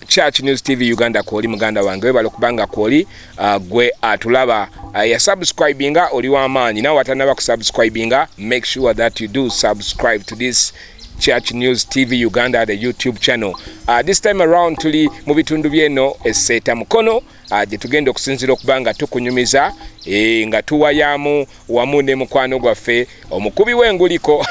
Church News TV Uganda kwoli muganda wange webale okubanga kwoli uh, gwe atulaba uh, ya subscribinga oli w'amaanyi nawe atanaba ku subscribinga make sure that you do subscribe to this Church News TV Uganda the YouTube channel uh, this time around tuli mu bitundu byeno eseeta mukono ah, gye tugenda okusinzira okuba nga tukunyumiza eh, nga tuwayaamu wamu ne mukwano gwaffe omukubi w'enguliko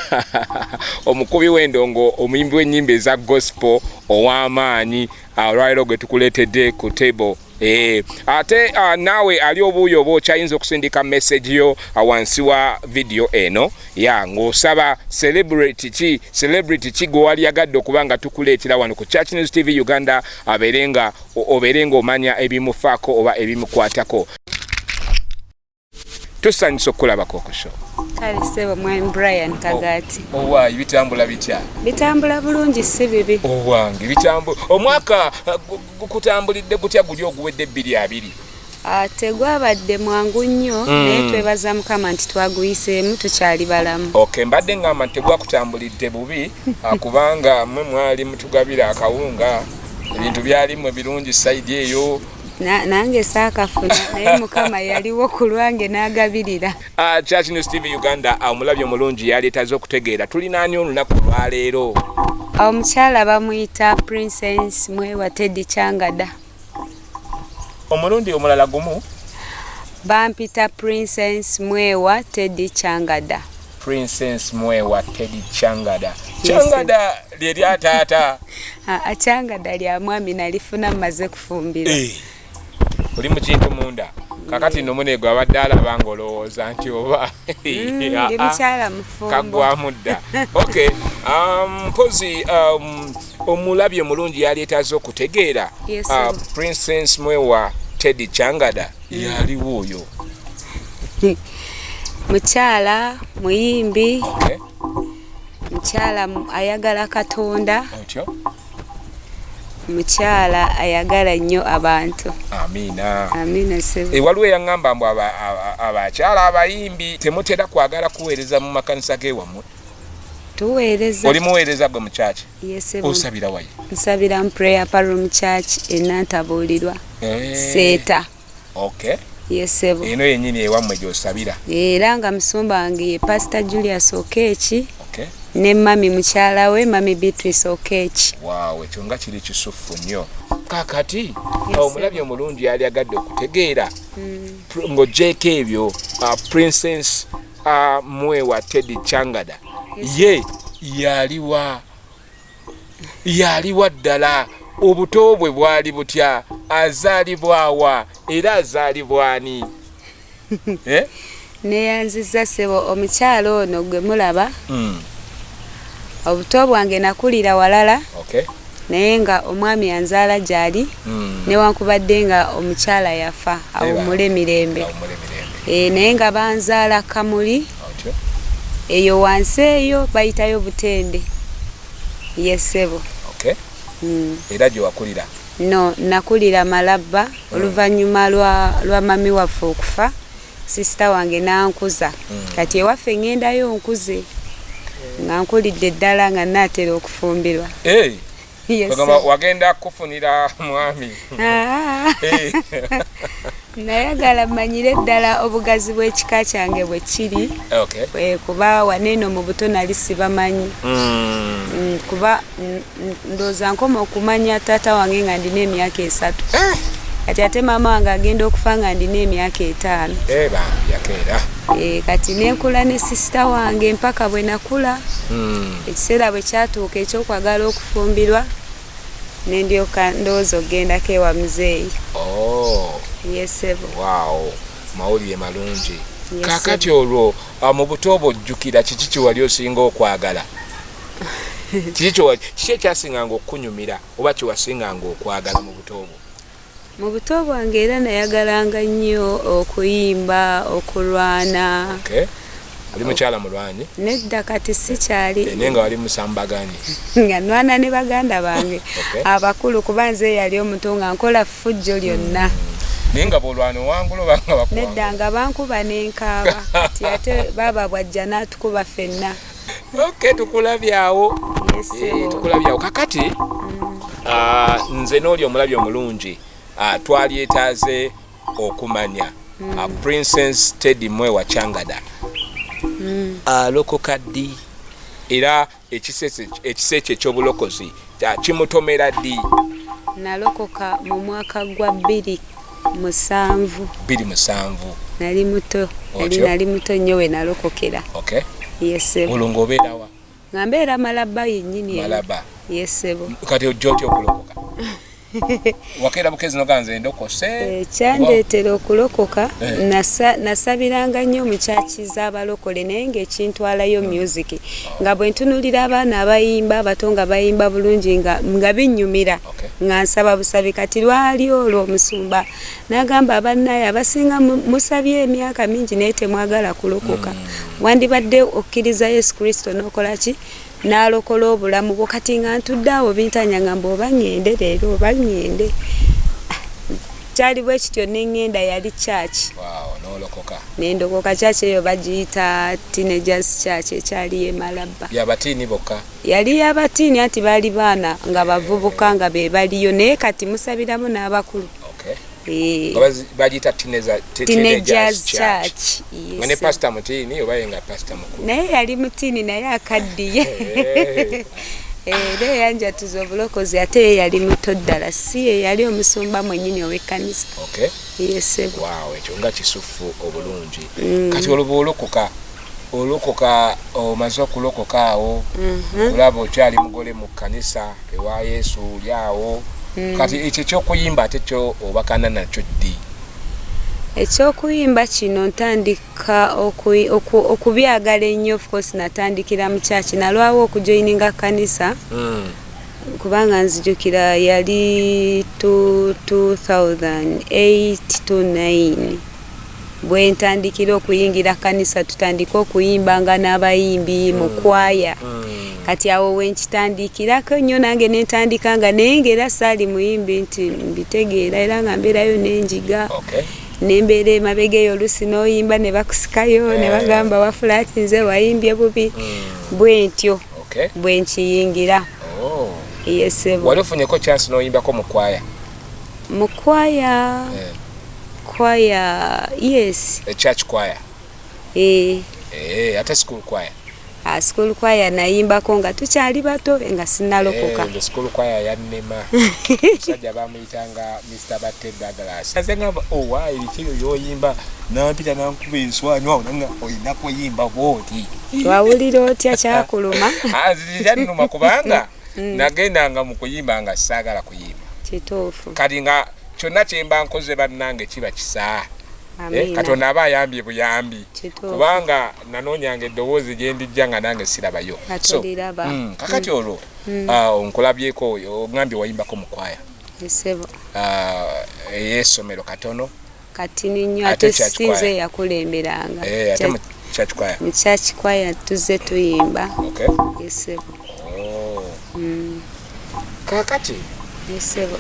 omukubi w'endongo omuyimbi w'ennyimba eza gospel ow'amaanyi ah, olwaliro gwe tukuleetedde ku table Eh, ate uh, naawe ali obuuyo oba okyayinza okusindika message yo ah, wansi wa vidiyo eno ya ng'osaba celebrity ki celebrity ki gwe wali yagadde okuba nga tukuleetera wano ku church news tv uganda abeere nga obeere ng'omanya ebimufaako oba ebimukwatako tusanyusa okukulabako okusho kale sebo mwami brian oh, kagati owayi oh, bitambula bitya bitambula bulungi si bibi owange oh, bitambula omwaka uh, gukutambulidde gutya guli oguwedde ebbiri abiri Ah, tegwabadde mwangu nnyo hmm. naye twebaza mukama nti twaguyiseemu tukyali balamu ok mbadde ngamba nti tegwakutambulidde bubi ah, kubanga mwe mwali mutugabira akawunga ebintu byalimu ebirungi saidi eyo nange saakafuna naye mukama yaliwo ku lwange n'agabirira ah, church news tv uganda omulabyo mulungi yaleetaze okutegeera tulinaani olunaku olwaleero omukyala bamuyita princess mwewa teddy kyangada omulundi omulala gumu bampita princess mwewa teddy changada princess mwewa teddy changada changada lye lya taata achangada lya mwami nalifuna mmaze kufumbira eh. oli mu kintu munda kakati no munego abadde alaba nga olowooza nti oba mm, kagwamu dda okay um, mpozi um, omulabi omulungi yalyetaaze okutegeera ah, princess mwewa teddy changada yaliwo oyo mukyala muyimbi mukyala ayagala katonda mukyala ayagala nnyo abantu ewaliwo eyaŋŋamba mbu abakyala abayimbi temutera kwagala kuweereza mu makanisa g'ewammwe tuweereza oli muweereza gwe mu kyaki osabira wayi nsabira mu prayer parum kyaki enantabuulirwa eh. seeta okay yesebo eno yenyini ewammwe gyosabira era nga musumba wange ye pasita julius okeeki okay. ne mami mukyala we mami beatrice okeeki waaw ekyo nga kiri kisufu nnyo kakati omulabi omulungi yali agadde okutegeera hmm. ng'ogyeko ebyo uh, princess a mwe wa teddy changada ye yaliwa yaliwa ddala obuto bwe bwali butya azaalibwawa era azaalibwani eh? neyanziza sebo omukyalo ono gwe mulaba mm. obuto bwange nakulira walala okay. naye nga omwami anzaala gyali newankubadde nga omukyala yafa awummule mirembe eeh naye nga banzaala Kamuli eyo wansi eyo bayitayo Buteende yee ssebo Era gyewakulira? No nakulira Malabba oluvannyuma lwa lwa mummy waffe okufa. Sister wange n'ankuza kati ewaffe ŋŋendayo nkuze nga nkulidde ddala nga nnaatera okufumbirwa. Ogamba wagenda kukufunira mwami? Ah. Nayagala mmanyire ddala obugazi bw'ekika kyange bwe kiri kuba waneeno mu buto nali sibamanyi mm. Mm, kuba mm, ndoza nkoma okumanya tata wange nga ndina emyaka esatu eh! kati ate maama wange agenda okufa nga ndina emyaka etaano eh, eh, kati nenkula ne sisita wange mpaka bwe nakula hmm. ekiseera bwe kyatuuka ekyokwagala okufumbirwa nendyoka ndowooza okugendako ewa muzeeyi oh. yesebo mawulire malungi kakati olwo ah, mu buto obwo ojjukira kiki kiwali osinga okwagala kiki kyo kiki ekyasinganga okukunyumira oba kyewasinganga okwagala mu buto bwo mu buto bwange era nayagalanga nnyo okuyimba okulwana okay. oli mukyala mulwanyi nedda kati sikyali eh, naye nga wali musambaganyi nga nwana ne baganda bange abakulu kuba nze yali omutu nga nkola fujjo lyonna mm. naye nga bolwana owangula obanga nedda nga bankuba nenkaaba ti ate baaba bwajja natukuba fenna Okay, tukulabye awo eh, tukulabye awo kakati mm. ah, nze n'oli omulabye omulungi ah, twalyetaaze okumanya mm. ah, princess teddy mwe wacangada mm. alokoka ddi era ekisa ekyo ekyobulokozi kyakimutomera ddi nalokoka mu mwaka gwa bbiri musanvu bbiri musanvu nali muto nali nali muto nnyo we nalokokera okay yesebo olwo ng'obeerawa nga mbeera malaba yennyini malaba yesebo kati ojja otya okulokoka wakeera bukezi noga nze ndokose eh, kyandeetera okulokoka eh. nasabiranga nnyo omukyaki z'abalokole naye ngaekintwalayo hmm. music nga bwe ntunulira abaana abayimba abato nga bayimba bulungi nga binnyumira nga nsaba busabi kati lwali olwo omusumba n'agamba abannaye abasinga musabye emyaka mingi naye temwagala kulokoka hmm. wandibadde okkiriza yesu kristo n'okola ki n'alokola obulamu bwo kati nga ntudde awo bintanya nga mba oba ŋŋende leero oba ŋŋende ah, kyali bwe kityo ne ŋŋenda yali kyaki ne ndokoka kyaki eyo bagiyita teenagers kyaki ekyali yemalabba yali yabatiini anti baali baana nga bavubuka nga be baliyo naye kati musabiramu n'abakulu Eh. bagiyita naye yali mutiini naye akaddiye eh. Eh, era eyanjatuza obulokozi ate ye yali muto ddala si ye yali omusumba mwenyini owekkanisa yesebo ekyo nga kisufu obulungi mm. kati olwoba olokoka olokoka omaze okulokoka awo mhm. kulaba okyali mugole mu kanisa ewa yesu oli awo mm. kati ekyo ekyokuyimba ate kyo obakana nakyo ddi ekyokuyimba kino ntandika okubyagala ennyo ofcourse natandikira mu kyaki nalwawo okujoininga kanisa mm. kubanga nzijukira yali 2008 to 9 bwentandikira okuyingira kanisa tutandika okuyimba nga n'abayimbi mm. mu kwaya mm. kati awo wenkitandikirako nnyo nange nentandika nga naye nga era saali muyimbi nti mbitegeera era nga mbeerayo nenjiga nembeera emabega eyo olusi noyimba ne bakusikayo ne eh. bagamba wafulaati nze wayimbye bubi mm. bwentyo bwenkiyingira oh. yesebo wali ofunyeko chance noyimbako mu kwaya mu kwaya eh. kwaya yes a church choir eh eh ate school choir a ah, school choir nayimbako nga tukyali bato nga sinalokoka eh, school choir yannema musajja bamuyitanga mr batte douglas aze ngamba owa oh, ebikiyo yoyimba nampita nankuba enswanyu awo nanga olina kuyimba bwoti wawulira otya kyakuluma ah, kyanuma kubanga mm. nagendanga mu kuyimba nga saagala kuyimba kituufu kati nga kyonna kyemba nkoze bannange kiba kisaa eh, katonda aba ayambye buyambi kubanga nanoonyanga eddoboozi gyendijja nga nange sirabayo mm, kakati mm. olwo mm. ah, nkulabyeko ogambye wayimbako mukwaya ah, eyesomero katono katini nnyo ate si nze yakulemberanga mu church kwaya tuzze tuyimba esebo oh. mm. kakati esebo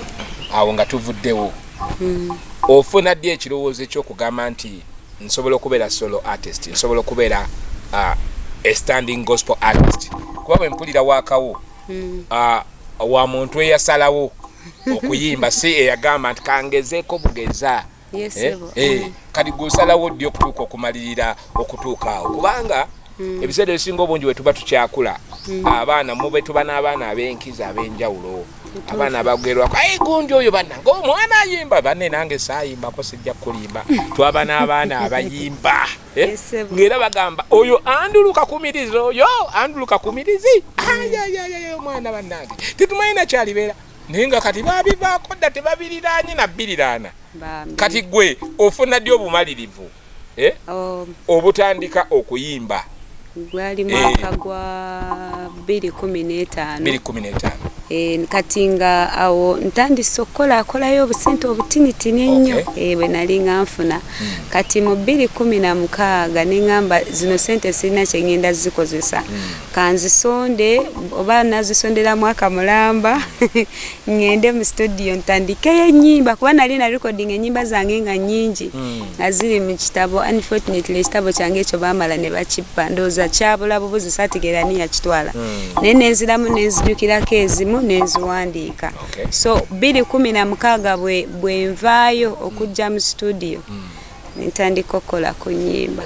awo nga tuvuddewo mm. ofuna ddi ekirowoozo ekyokugamba nti nsobola okubeera solo artist nsobola okubeera uh, a standing gospel artist kuba bwempulira wakawo mm. uh, wa muntu eyasalawo okuyimba si eyagamba nti kangezeeko bugeza eh, eh, mm. kati gwosalawo ddi okutuuka okumalirira okutuuka awo kubanga mm. ebiseera ebisinga obungi wetuba tukyakula mm. abaana mube tuba n'abaana ab'enkizo ab'enjawulo abaana bagerwako aye gundi oyo banange omwana ayimba banne nange saayimbako sijja kukulimba twaba n'abaana abayimba Eh? ngera bagamba oyo andulu kakumirizi oyo andulu kakumirizi ayayayaya omwana bannange tetumanyi nakyalibeera naye nga kati babivaako dda tebabiriraanye nabbiriraana kati gwe ofuna ddi obumalirivu eh? oh. obutandika okuyimba gwali eh. mwaka gwa bbiri kumi n'etaano bbiri kumi n'etaano eh, kati nga awo ntandise okukolakolayo obusente obutinitini ennyo eh, bwe nali nga nfuna hmm. kati mu bbiri kumi na mukaaga ne ŋŋamba zino sente sirina kye ŋŋenda zikozesa hmm. kanzisonde oba nazisondera mwaka mulamba ŋŋende mu situdiyo ntandikeyo ennyimba kuba nali na recording ennyimba zange nga nnyingi hmm. nga ziri mu kitabo unfortunately ekitabo kyange ekyo baamala ne bakippa ndowooza kyabula bubuzi saategeera ni yakitwala hmm. naye nenziramu nenzijukirako ezimu nenziwandiika so bbiri kumi na mukaaga bwe nvaayo okujja mu situdiyo hmm. nentandika okukola ku nyimba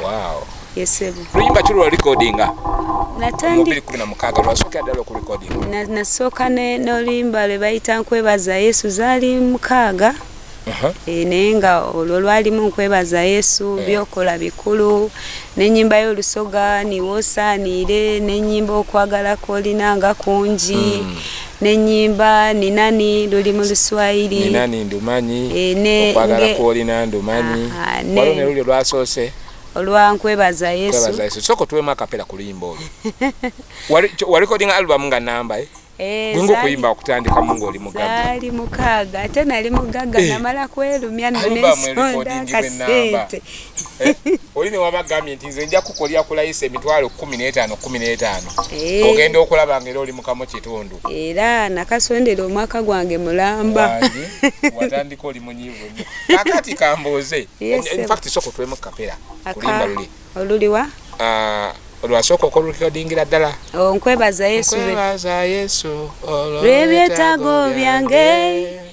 yesebo luyimba ki lwa recordinga nasooka n'oluyimba lwe bayita nkwebaza yesu zaali mukaaga uh-huh. eh, naye nga olwo lwalimu nkwebaza yesu eh. byokola bikulu nenyimba y'olusoga niwosaaniire nenyimba okwagala kwolina nga kungi mm. nenyimba ninani luli mu luswayiri ninani ndumanyi eh, okwagala kwolina ndumanyi waliwo ne luli lwasoose olwa nkwebaza yesu soko tuwemu akapera ku luyimba olwo walikodinga alubamu nga namba eh? Eh, gwenga okuyimba okutandika mu ngaoli mugaali mukaaga ate nali mugagga namala kwerumya nonesonda kasente Eh, oli ne waba gambye nti nze nja kukolya ku layisi emitwalo kumi n'etaano kumi n'etaano eh. ogenda okulaba nga era oli mukamu kitundu era nakasondera omwaka gwange mulamba watandika oli munyivu nyo kakati kambuuze infact soko twemu kapera kulimba luli oluliwa ah, olwasooka okolukikadingira ddala oh, nkwebaza yesu nkwebaza yesu olwebyetaago byange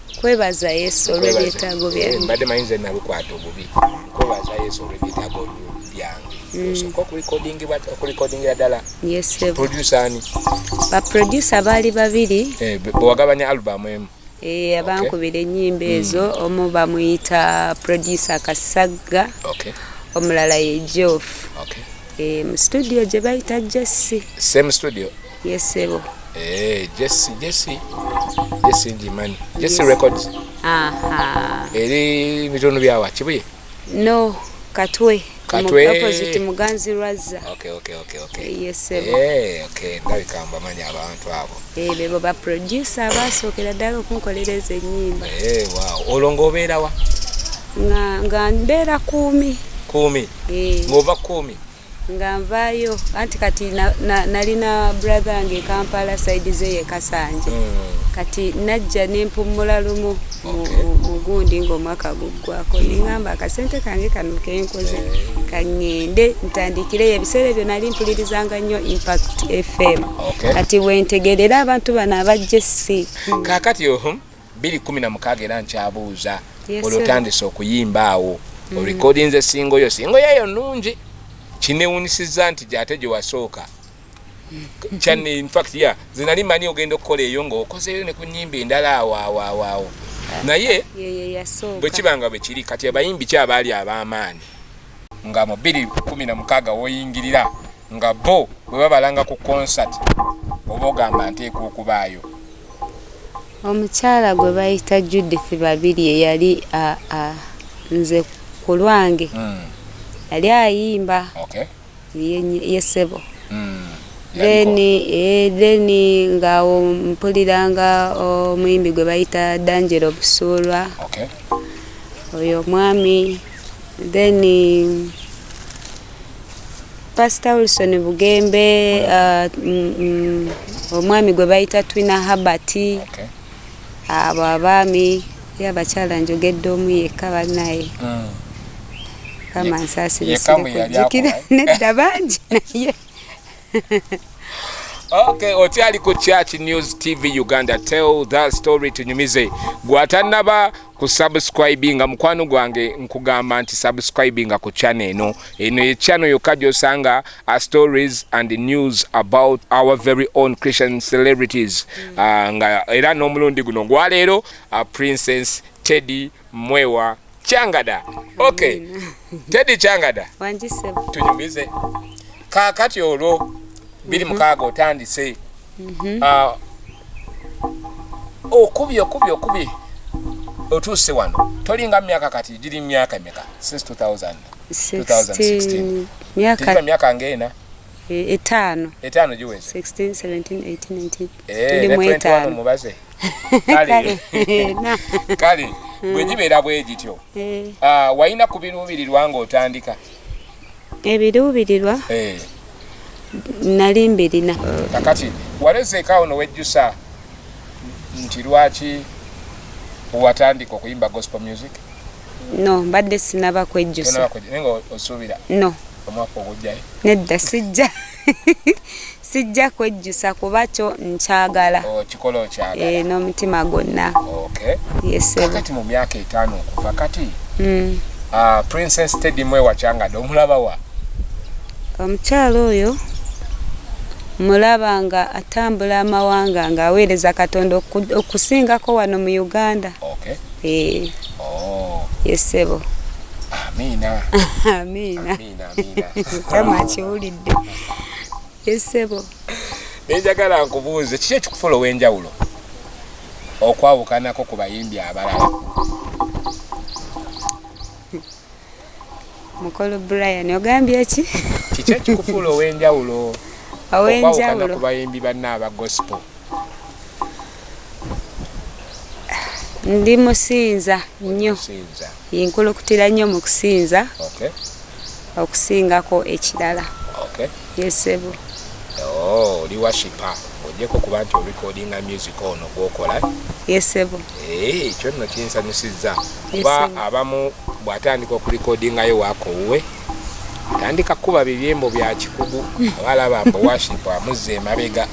kwebaza yesu olwebyetaago byange eh, mbadde manyi nze nalukwata obubi kwebaza yesu olwebyetaago byange mm. osoka okulikodingira ddala produsa ani baprodusa baali babiri eh, bwewagabanya alubamu emu eh, abankubira enyimba mm. ezo omu bamuyita produsa kasagga omulala ye jof mu studio gye bayita jesse same studio Yes, sebo. Eh, Jesse, Jesse. Jesse Ndimani. Jesse yes. Records. Aha. Eri bitundu byawa kibuye? No, Katwe. Katwe. Opposite Muganzi Raza. Okay, okay, okay, okay. Eh, yes, sebo. Eh, okay. Ndabi kamba manyi abantu abo. Eh, bebo ba producer baso kila dalo kunkolereza enyimba. Eh, wow. Olongo obera wa? Nga nga ndera kumi. Kumi. Eh. Ngova kumi. nga nvaayo anti kati nalina brother wange ekampala saidi ze yekasanje hmm. kati najja nempummula lumu mugundi ngaomwaka guggwako neŋamba akasente kange kano kenkoze eh. kaŋŋende ntandikireyo ebiseera ebyo nali mpulirizanga nnyo impact fm kati wentegerera abantu bano abajja essi kakati ohum bbiri kumi na mukaaga era nkyabuuza oli otandise okuyimba awo mm. orekodinze singo yo singo yeyo nungi kinewunisiza nti gyate gyewasooka mm. kyani infact ya zinali manyi ogenda okukola eyo ngaokozeyo ne ku nyimba endala awoawoawo naye bwe kiba nga bwe kiri kati abayimbi ki abaali ab'amaanyi nga mu bbiri kumi na mukaaga woyingirira nga bo bwe babalanga ku konsati oba ogamba nteeka okubaayo Omukyala gwe bayita Judith Babirye yali a, a, nze ku lwange mm. yali ayimba okay. ye sebo mm. then eh, then ngaawo mpuliranga omuyimbi gwe bayita Dangelo Busuulwa okay. oyo omwami then pastor wilson bugembe uh, mm, mm, omwami gwe bayita twina habert okay. abo uh, abaami ye abakyala njogedde omu yekka banaye mm. kama nsasiresirekujjukira nedda bangi naye Okay, okyali ku Church News TV Uganda tell that story tunyumize gwatanaba ku subscribing mukwano gwange nkugamba nti subscribing ku channel eno eno ye channel yokka gyosanga a stories and news about our very own Christian celebrities mm. uh, nga era n'omulundi guno gwaleero uh, Princess Teddy Mwewa Changada. Okay. Teddy Changada. Wanjise. Tunyumize. Kakati olwo biri mhm. mukaaga otandise. Mhm. Ah. Okubye okubye okubye. Otuuse wano. Tolinga myaka kati giri myaka meka since 2000. 2016. Myaka. Tiri myaka ngena. Eh, etaano etaano giweze 16 17 18 19 ndi mu etaano mubaze kale kale hmm. bwe gibeera bwe gityo eh. ah, walina ku biruubirirwa ng'otandika ebiruubirirwa eh. nali mbirina kakati walezeekaawo nowejjusa nti lwaki watandika okuyimba gospel music no mbadde sinaba kwejjusa no omwaka ogujjayo nedda sijja sijja kwejjusa kuba kyo nkyagala oh, kikola okyagala eh, n'omutima gwonna kakati mu myaka etaano okuva kati hmm. ah, princess teddy mwe wakyangade omulaba wa omukyalo oyo mulaba nga atambula amawanga ng'aweereza katonda okusingako wano mu uganda eh. Oh. Yes, sebo. Amina. Amina. Amina, amina. Kama kiwulidde. Yes, sebo. Nenjagala nkubuuze kiki ekikufuula ow'enjawulo okwawukanako ku bayimbi abalala? mukolo brian ogambye ki kiki ekikufuula ow'enjawulo ow'enjawulo ku bayimbi banna aba gospel ndi musinza nnyo yenkulukutira nnyo mu kusinza okusingako ekirala Yes sebo. Oh, oli washipa ojeko kuba nti orecordinga music ono gwokola Yes sebo. Eh, ekyo nno kinsanyusizza kuba abamu bw'atandika okurekodingayo waako wuwe atandika kukuba bibyembo bya kikugu aba alaba mbu washipa amuzza emabega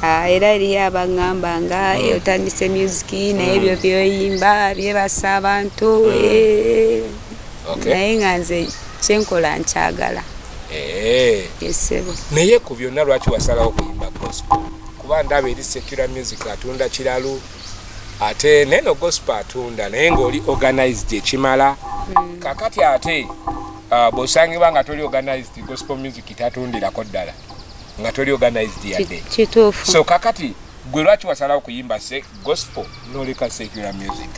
Ah, era eriyo abagamba nga hmm. eh, otandise musiki naye hmm. byo byoyimba byebasa abantu hmm. eh. naye nga nze kyenkola nkyagala Eh. naye ku byonna lwaki wasalawo kuyimba gospel kuba ndaba eri secular music atunda kiralu ate neno gospel atunda naye ngaoli organized ekimala hmm. kakati ate uh, bwosangibwa nga toli organized gospel music tatundirako ddala nga toli organized yadde so kakati gwe lwaki wasalawo kuyimba Gospel noleka secular music.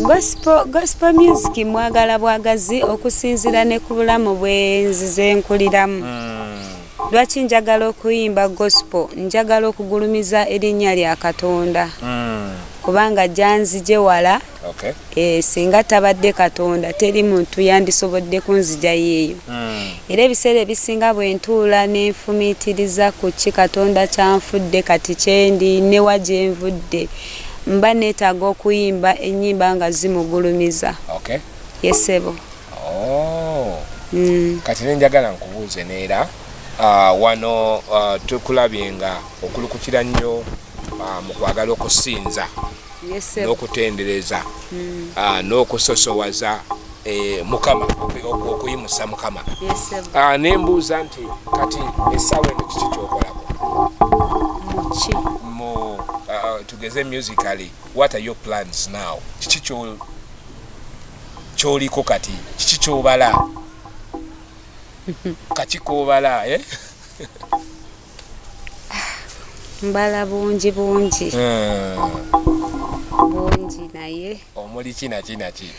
Gospel, gospel music mwagala bwagazi okusinzira ne ku bulamu bwenzize nkuliramu mm. lwaki njagala okuyimba gospel njagala okugulumiza erinnya lya katonda mm. kubanga gyanzije wala Okay. E, singa tabadde katonda teri muntu yandisobodde kunzijayo eyo mm. era ebiseera ebisinga bwentuula nenfumiitiriza ku ki katonda kyanfudde kati kyendi newa gyenvudde mba neetaaga okuyimba ennyimba nga zimugulumiza okay. yesebo oh. mm. kati nenjagala nkubuuze neera uh, wano uh, tukulabye nga okulukukira nnyo uh, mu kwagala okusinza n'okutendereza hmm. ah, n'okusosowaza eh, mukama okuyimusa mukama ah, nembuuza nti kati esawa eno kiki kyokolako ah, tugeze musically what are your plans now kiki kyoliko kati kiki kyobala kakikobala eh? mbala bungi bungi eh. bungi naye omuli kinakinaki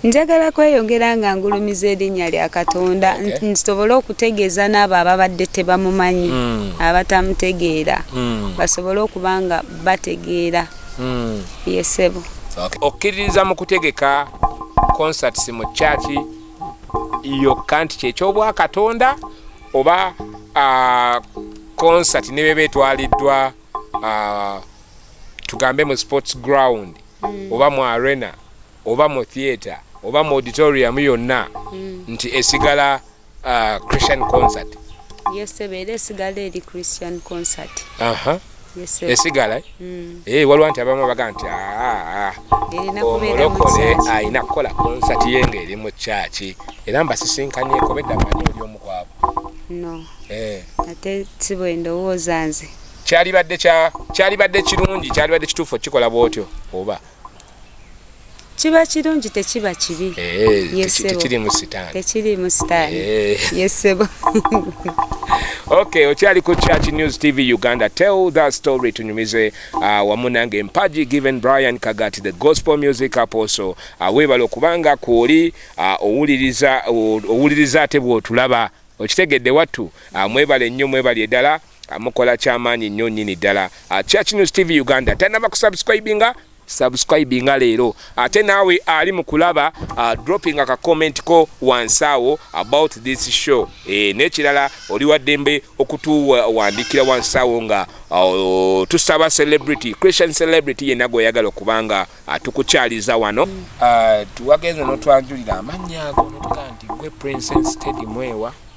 njagala kweyongera nga ngulumiza erinnya lya katonda nsobole okutegeeza n'abo ababadde tebamumanyi hmm. abatamutegeera hmm. basobole okuba nga bategeera hmm. yesebo okkiririza mu kutegeka concerts mu kyaki yokka nti kyekyobwa katonda oba concert ne bebe etwaliddwa tugambe mu sports ground mm. oba mu arena oba mu theatre oba mu auditorium yonna mm. nti esigala christian concert yes, esigala mm. ee eh, waliwo nti abamu abaga nti ah, ah, ah. omulokole alina kukola konsati ye nga eri mu kyaki era mbasisinkanyeko bedda manyi oli omu kwabo eh. ate si bwe ndowooza nze kyalibadde kirungi kyalibadde kituufu okukikola bwotyo oba kiba kirungi tekiba kibi eh, tekirimu sitaani tekirimu sitaani eh. yesebo okay okyali ku church news tv uganda tell that story tunyumize uh, wamu nange mpaji given brian kagati the gospel music apostle uh, webala okubanga kwoli uh, owuliriza owuliriza ate bwotulaba okitegedde wattu uh, mwebale nnyo mwebali edala Mukola kyamaanyi nnyo nnyini ddala. Ah, Church News TV Uganda tanaba kusubscribinga subscribinga leero ate naawe ali mu kulaba ah, dropping aka comment ko wansi awo about this show e, n'ekirala oli waddembe okutuwandikira wansi awo nga oh, tusaba celebrity christian celebrity yenna gweoyagala okubanga atukukyaliza wano ah, tuwagenze notwanjulira amannya ago notuga nti gwe princess tedi mwewa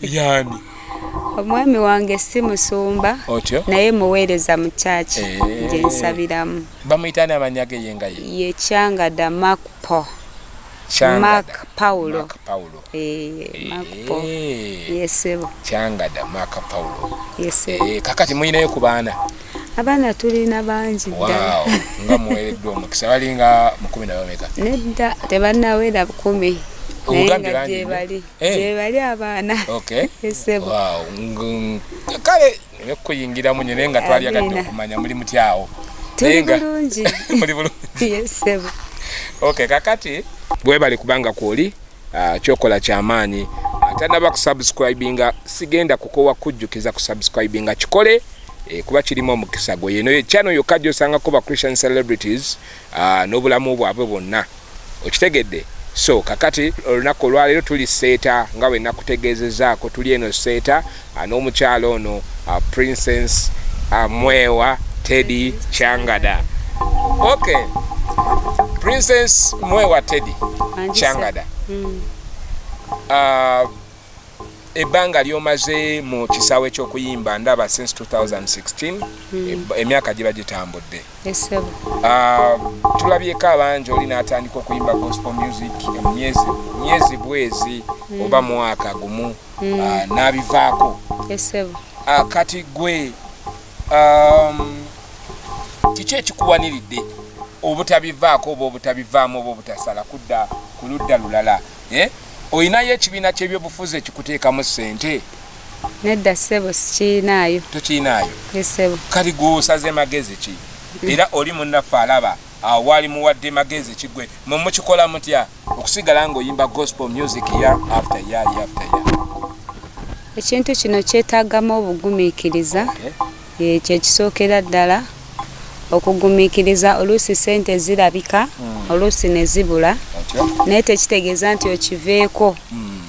yani omwami wange si musumba naye muweereza mu kyaki eh. gyensabiramu bamuyitani amanya ge yengaye ye kyangada makpo mak paulo yesebo kyangada mak paulo eh, kakati muyinayo ku baana abaana tulina bangi ddala nga muweereddwa omukisa balinga mukumi nabameka nedda tebanawera bukumi naye nga gyebali Eh. gyebali abaana esebo kale nekuyingiramu nyo naye nga twali agadde okumanya muli mutyawo tuli bulungi muli bulungi esebo ok kakati bwebali kubanga kwoli ah, kyokola kyamaanyi atanaba kusubscribinga sigenda kukowa kujjukiza kusubscribinga kikole Eh, kuba kirimu omukisa gwe yeno channel yokka gyosangako ba christian celebrities ah, n'obulamu bwabwe bwonna Okitegedde? So, kakati, olunaku olwaleero tuli Sseeta, nga bwe nnakutegeezezzaako, tuli eno Sseeta, a, n'omukyala ono, a, Princess, a, Mwewa Teddy Kyangada. Okay. Princess Mwewa Teddy Kyangada. Mm. A, ebbanga lyomaze mu kisaawe ky'okuyimba ndaba since 2016 hmm. emyaka giba gitambudde ah, tulabyeko abangi oli n'atandika okuyimba gospel music emyezi myezi bwezi hmm. oba mwaka gumu hmm. ah, n'abivaako ah, kati gwe um, kiki ekikuwaniridde obutabivaako oba obutabivaamu oba obutasala kudda ku ludda lulala eh? olinayo ekibiina kyebyobufuzi ekikuteekamu sente nedda ssebo sikirinaayo tokirinaayo esebo kati gwosaze magezi ki mm. era oli munnaffe alaba awaali muwadde magezi kigwe mwe mukikola mutya okusigala ngaoyimba gospel music ya after ya after ya ekintu kino kyetagamu obugumiikiriza okay. Ekyo ekisookera ddala okugumiikiriza. Oluusi ssente zirabika, hmm. oluusi ne zibula, naye tekitegeeza nti okiveeko. Hmm.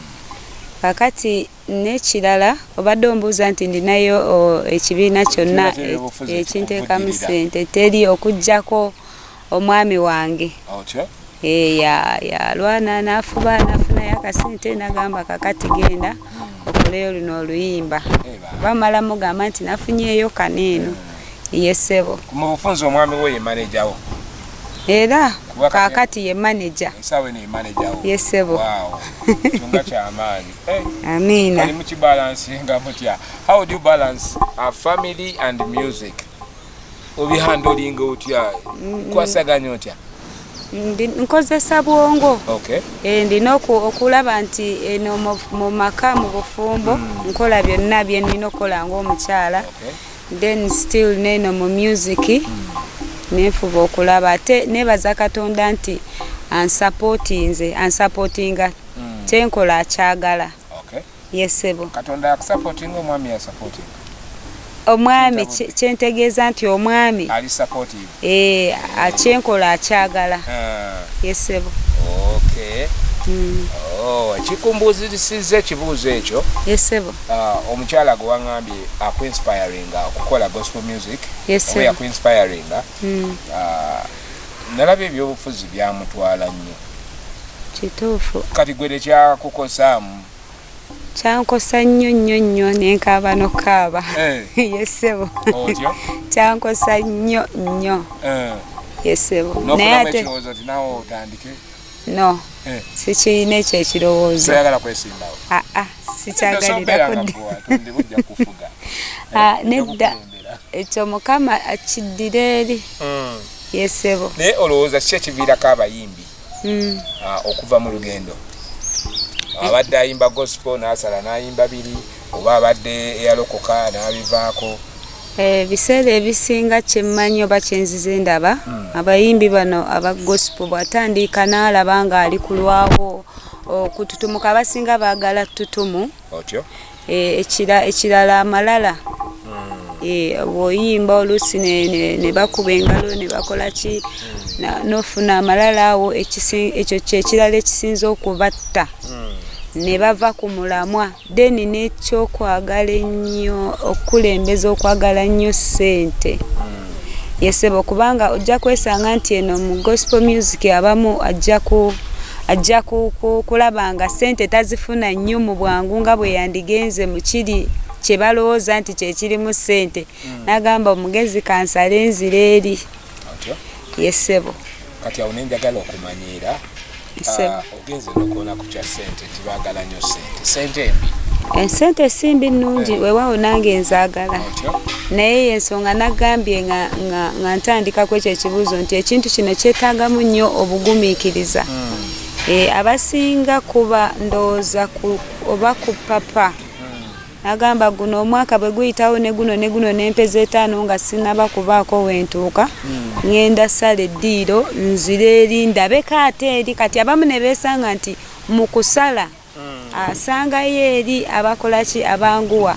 Kakati n'ekirala obadde ombuuza nti ndinayo ekibiina kyonna ekinteekamu ssente teri okugyako omwami wange okay. Eh, yalwana nafuba nafunayo akasente nagamba kakati genda okuleyo luno oluyimba eh, bamala mugamba nti nafunyeeyo kaneeno eh. yesebo mu bufunzi omwami we yemanejawo era kakati ye maneja yesebo amiina obihandolinga otya kwasaganya otya nkozesa bwongo eh, ndina okulaba nti eno mu maka mu bufumbo hmm. nkola byonna byenina okukola ngaomukyala then still neno mu music hmm. nenfuba okulaba ate nebaza katonda nti ansapotinze ansapotinga hmm. tenkola akyagala Yes sebo. Katonda ya supporting omwami ya supporting. Omwami kyentegeeza nti omwami ali supportive. Eh, akyenkola akyagala. Ah. Yes sebo. Okay. Mm. Oh, kikumbuuzisiza ekibuuzo ekyo. Yes sebo. Ah, omukyala gwe wangambye aku inspiring okukola gospel music. Yes sebo. Oya ku inspiring. Mm. Ah, nalabye ebyobufuzi byamutwala nnyo. Kituufu. Kati gwe tekyakukosaamu. kyankosa nnyo nnyo nnyo nenkaaba nokukaaba eh. yesebo kyankosa nnyo nnyo eh. yesebo naye ate no eh. sikirina ekyo ekirowoozo ah, ah, ah, nedda ekyo mukama akiddira eri hmm. yesebo naye olowooza ki ekiviirako abayimbi mm. ah, okuva mu lugendo abadde ayimba gospel nasala nayimba biri oba abadde eyalokoka nabivaako eh, ebiseera ebisinga kyemmanyi oba kyenzize ndaba hmm. abayimbi bano aba gospel bwatandiika naalaba nga ali kulwawo okututumuka abasinga baagala tutumu Eh, ekirala amalala hmm. eh, bwoyimba oluusi ne bakuba engalo ne bakola ki hmm. nofuna amalala awo ekyo kyekirala ekisinza okubatta hmm. ne bava ku mulamwa then nekyokwagala ennyo okukulembeza okwagala nnyo ssente yesebo kubanga ojja kwesanga nti eno mu gospel music abamu ajja ku ajja kulaba nga sente tazifuna nnyo mu bwangu nga bwe yandigenze mu kiri kye balowooza nti kyekirimu sente hmm. n'agamba omugezi kansale nzira eri yesebo kati awo nenjagala okumanyiira ah, ogenze nokuona ku kya sente nti bagala nyo sente sente embi ensente eh, simbi nungi eh. wewawo nange nzagala naye yensonga nagambye nga ntandikaku ekyo ekibuuzo nti ekintu kino kyetagamu nnyo obugumikiriza hmm. eh, abasinga kuba ndowooza oba ku papa Agamba guno omwaka bwe guyitawo ne guno ne guno n'empeza etaano nga sinnaba kubaako we ntuuka ng'enda sala eddiiro nzire eri ndabeko ate eri kati abamu ne beesanga nti mu kusala asangayo eri abakola ki abanguwa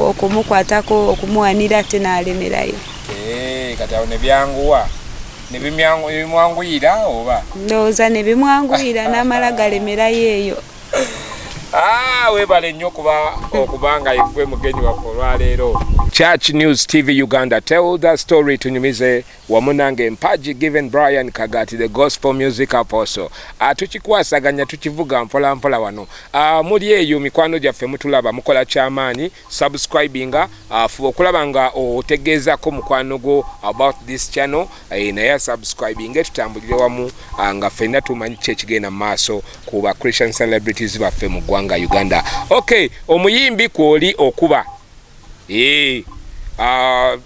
okumukwatako okumuwanira ate n'alemerayo eh, kati awo ne byanguwa nebimwanguyira oba ndowooza nebimwanguyira n'amala galemerayo eyo Ah, webale nnyo kuba okuba nga yegwe mugenyi waffe olwaleero church news tv uganda tell the story tunyumize wamu nange mpaji given brian kagati the gospel music apostle ah, tukikwasaganya tukivuga mpolampola wano ah, muli eyo mikwano gyaffe mutulaba mukola kyamaanyi subscribinga uh, fuba okulaba nga otegeezako mukwano gwo about this channel eh, naye asubscribinge tutambulire wamu uh, nga fenna tumanyi ki ekigenda mu maaso ku ba christian celebrities baffe mu ggwanga uganda ok omuyimbi kwoli okuba eh, uh,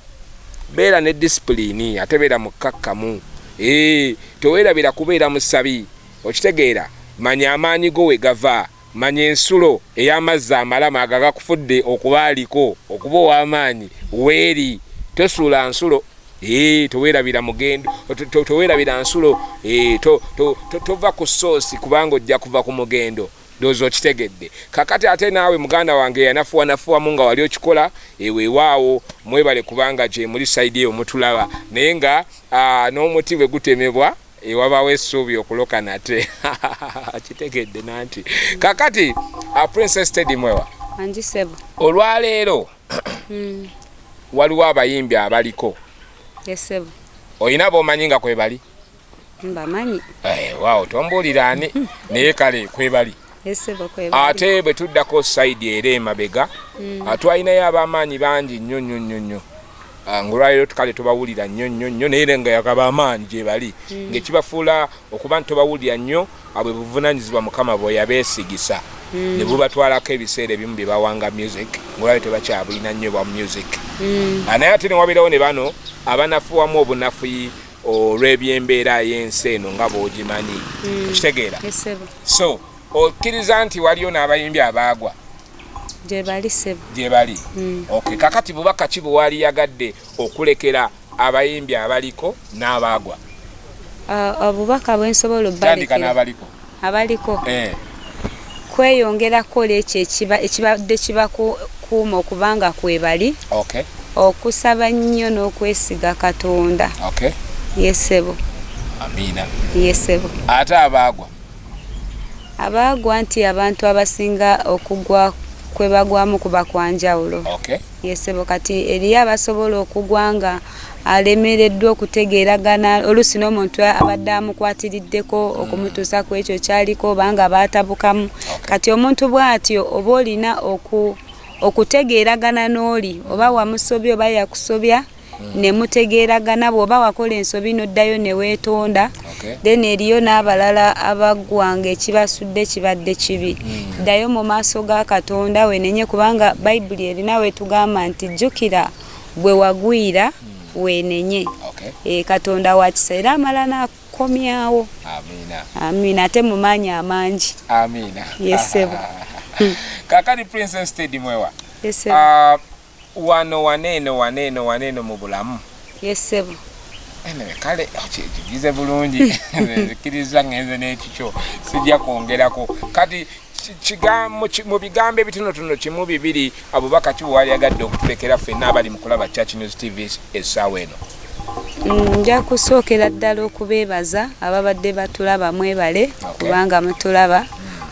beera ne disipulini ate beera mukkakkamu eh, teweerabira kubeera musabi okitegeera manya amaanyi go we gava Manya ensulo ey'amazzi amalama ago agakufudde okuba aliko okuba ow'amaanyi weeri. Tosuula nsulo ee teweerabira mugendo teweerabira nsulo ee tova ku soosi kubanga ojja kuva ku mugendo doza okitegedde kakati ate naawe muganda wange yanafuwanafuwamu nga wali okikola eweewaawo mwebale kubanga gyemuli saidi eyo mutulaba naye nga n'omuti bwe gutemebwa ewabawo essuubi okuloka nate akitegedde nanti kakati a princess tedi mwewa anjisebo olwaleero hmm. waliwo abayimbi abaliko esebo olina bomanyi nga kwebali mbamanyi eh, wawo tombuulira ani naye kale kwebali ate bwe tuddako sayidi era emabega mm. ah, twalinayo ab'amaanyi bangi nnyo nnyo nnyo nnyo ah, ngaolwaleero tukale tubawulira nnyo nnyo nnyo naye era nga yakaba amaanyi gye bali mm. ng'ekibafuula okuba nti tubawulira nnyo ah, bwe buvunaanyizibwa mukama bwe yabeesigisa mm. ne bubatwalako ebiseera ebimu bye bawanga music ngaolwaleo tebakyabulina nnyo bwa music naye ate ne wabeerawo ne bano abanafuwamu obunafuyi olw'ebyembeera y'ensi eno nga bw'ogimanyi hmm. okitegeera so okkiriza nti waliyo n'abayimbi abaagwa gyebali sebo gyebali hmm. ok kakati bubaka ki bwewali yagadde okulekera abayimbi abaliko n'abaagwa obubaka bwensobola obbaliko abaliko eh. kweyongera kukola ekyo ekibadde kibakuuma okubanga kwebali okay. okusaba nnyo n'okwesiga katonda okay. yesebo amiina yesebo ate abaagwa abaagwa nti abantu abasinga okugwa kwebagwamu kuba kwanjawulo okay. Ye ssebo kati eriyo abasobola okugwa nga alemereddwa okutegeeragana oluusi n'omuntu abadde amukwatiriddeko okumutuusa ku ekyo kyaliko oba nga baatabukamu kati omuntu bw'atyo oba olina oku okutegeeragana n'oli oba wamusobya oba yakusobya hmm. ne mutegeeragana bw'oba wakola ensobi n'oddayo ne weetonda then eriyo n'abalala abaggwanga ekibasudde kibadde kibi hmm. ddayo mu maaso ga katonda wenenye kubanga bayibuli erina wetugamba nti jjukira bwe wagwira hmm. wenenye eh, katonda wakisa era amala naku kukomyawo amina amina ate mumanyi amangi amina yesebo kakati princess teddy mwewa yesebo uh, Wano wano eno wano eno wano eno mu bulamu. Yes sebo. Anyway, kale okigize bulungi nzikiriza ngenze n'ekikyo sijja kwongerako kati mu bigambo ebitonotono kimu bibiri abubaka ki bwewali agadde okutulekera ffenna abali mukulaba church news tv essaawa eno mm, nja kusookera ddala okubeebaza ababadde batulaba mwebale kubanga mutulaba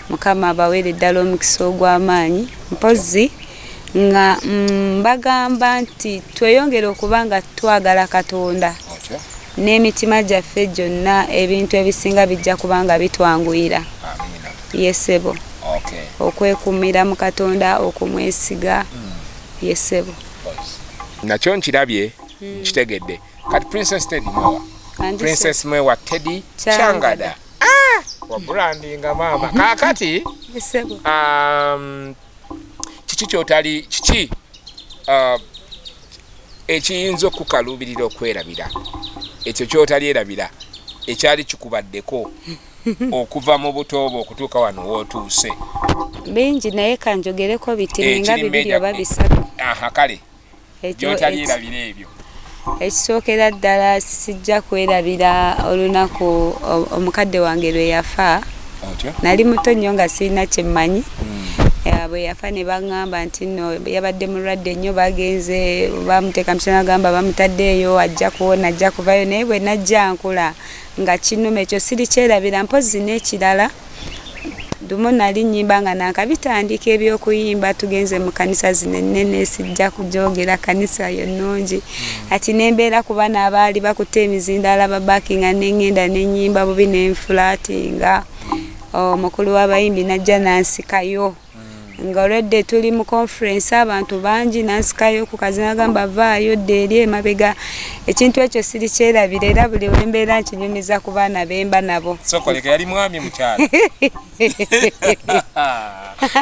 mukama abaweere ddala omukisa ogw'amaanyi mpozzi nga mm, mbagamba mm, nti tweyongere okuba nga twagala katonda n'emitima gyaffe gyonna ebintu ebisinga bijja kuba nga bitwanguyira yesebo okay. okwekumira mu katonda okumwesiga mm. yesebo nakyo nkirabye mm. nkitegedde kati princess teddy mwewa princess mwewa teddy changada ah! wabrandinga maama kakati um, kiki kyotali kiki uh, ekiyinza okukaluubirira okwerabira ekyo kyotali erabira ekyali kikubaddeko okuva mu butoobo okutuuka wano wootuuse bingi naye kanjogereko biti ninga bibiri oba bisatu aha kale gyotalyerabira ebyo ekisookera ddala sijja kwerabira olunaku omukadde wange lwe yafa nali muto nnyo nga sirina kyemmanyi hmm. bwe yafa ne baŋŋamba nti no yabadde mulwadde nnyo bagenze bamuteeka musana agamba bamutadde eyo ajja kuwona ajja kuvayo naye bwe najja nkula nga kinuma ekyo sirikyerabira mpozi n'ekirala Lumu nnali nnyimba nga naakabitandika eby'okuyimba tugenze mu kkanisa zino ennene sijja kugyogera kkanisa yo nnungi hmm. ati ne mbeera ku bana abaali bakutte emizindaala babakinga ne ŋŋenda ne nnyimba bubi ne nfulaatinga omukulu oh, w'abayimbi n'ajja n'ansikayo nga olwedde tuli mu conference abantu bangi nansikayo ku kazina gamba vaayo dde eri emabega ekintu ekyo siri kyerabira era buli wembeera nkinyumiza ku baana bemba nabo sokoleka yali mwami mukyala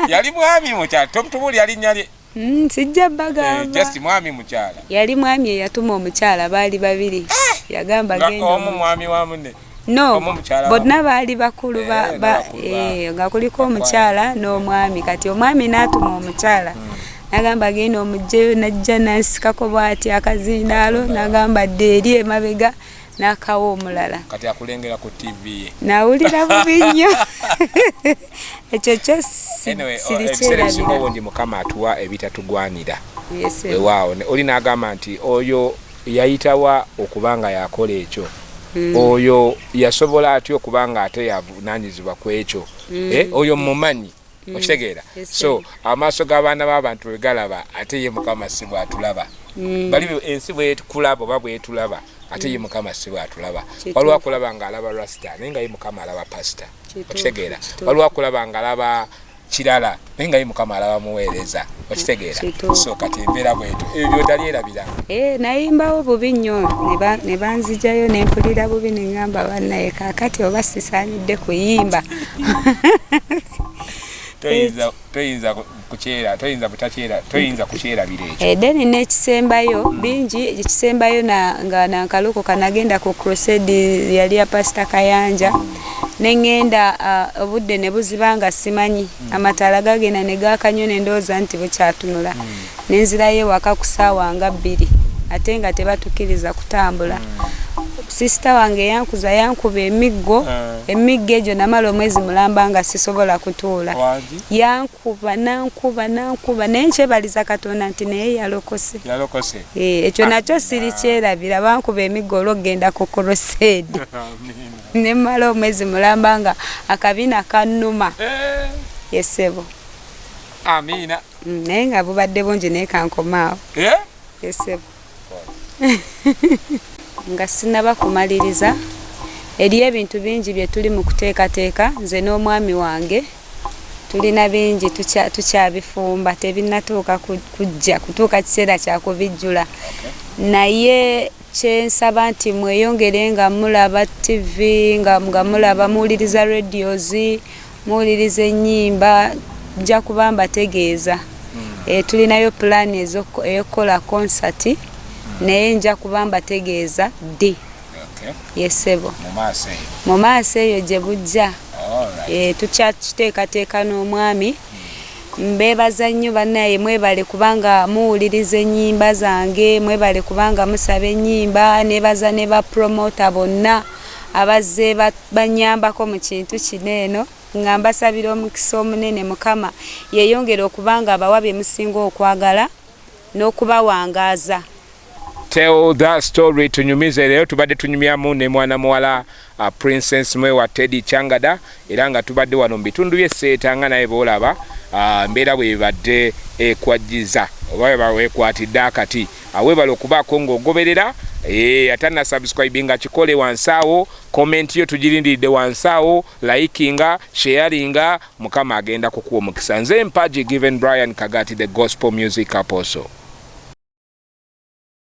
yali mwami mukyala tomutubuli yali nyali Mm, sijja bagamba. Eh, just mwami mukyala. Yali mwami eyatuma omukyala baali babiri. Eh! Yagamba genda. Omu mwami wa munne. No. Bonna baali bakulu eh, ba, ba eh nga kuliko omukyala n'omwami kati omwami n'atuma omukyala. Hmm. Nagamba genda omujjeyo najja nasikako bwati akazindaalo nagamba dde eri emabega. n'akawa omulala kati akulengera ku tv ye nawulira bubi nnyo ekyo kyo sirikyerabira obungi mukama atuwa ebitatugwanira wewaawo oli n'agamba nti oyo yayitawa okuba nga yakola ekyo hmm. oyo yasobola atya okuba nga ate yavunanyizibwa ku ekyo hmm. eh, oyo mumanyi mm. okitegeera so amaaso g'abaana b'abantu bwe galaba ate ye mukama si bwatulaba mm. bali ensi bwekulaba oba bwetulaba ate ye mm. mukama si bwatulaba waliwo akulaba nga alaba rasta naye nga ye mukama alaba pasita okitegeera waliwo akulaba nga alaba kirala naye nga ye mukama alaba muweereza okitegeera so kati embeera bwetu ebyo byotali erabira eh, nayimbawo bubi nnyo ne banzijayo ne mpulira bubi ne ŋamba banaye kakati oba sisaanidde kuyimba toyinza toyinza kukyera toyinza butakyera toyinza kukyerabira ekyo eh, then n'ekisembayo bingi ekisembayo nga nankaluko kanagenda ku crusade yali ya pasita kayanja neŋŋenda ah, obudde ne buziba nga simanyi mm. amataala gagenda ne gaaka nnyo ne ndowooza nti bukyatunula mm. nenzirayo ewaka ku saawa nga bbiri ate nga tebatukiriza kutambula sisita wange yankuza yankuba emiggo eh. emiggo egyo namala omwezi mulamba nga sisobola kutuula yankuba nankuba nankuba naye nkyebaliza katonda nti naye yalokose eh, ekyo nakyo siri kyerabira bankuba emiggo olwokugenda ku korosedi nemala omwezi mulamba nga akabina kanuma eh. yesebo amiina Mm, naye nga bubadde bungi naye kankomaawo eh? esebo nga sinaba kumaliriza eriyo ebintu bingi bye tuli mu kuteekateeka nze n'omwami wange tulina bingi tukyabifumba tebinatuuka kujja kutuuka kiseera kyakubijjula naye Kyensaba nti mweyongere nga mulaba TV, nga nga mulaba muwuliriza radios, muwuliriza ennyimba nja kuba mbategeeza. Eh, tulinayo pulaani ez'oku- ey'okukola konsati naye nja kuba mbategeeza ddi. Okay. Ye ssebo. Mu maaso eyo. Mu maaso eyo gye bujja. Alright. Eh, tukyakiteekateeka n'omwami Mbebaza nnyo banaye mwebale kubanga muwuliriza enyimba zange mwebale kubanga musaba enyimba nebaza ne ba promoter bonna abazze banyambako mu kintu kino eno nga mbasabira omukisa omunene mukama yeyongere okubanga abawa bye musinga okwagala n'okubawangaaza. Tell that story tunyumize leero tubadde tunyumyamu ne mwana muwala uh, princess mwe wa Teddy Changada era nga tubadde wano mu bitundu bye seeta nga naye boolaba uh, mbeera bwe bibadde ekwajjiza oba bawekwatidde akati awebala uh, okubaako ng'ogoberera eh, ate na subscribe nga kikole wansi awo komenti yo tugirindiridde wansi awo likinga sharinga Mukama agenda kukuwa omukisa. Nze mpaji given Brian Kagati the gospel music apostle.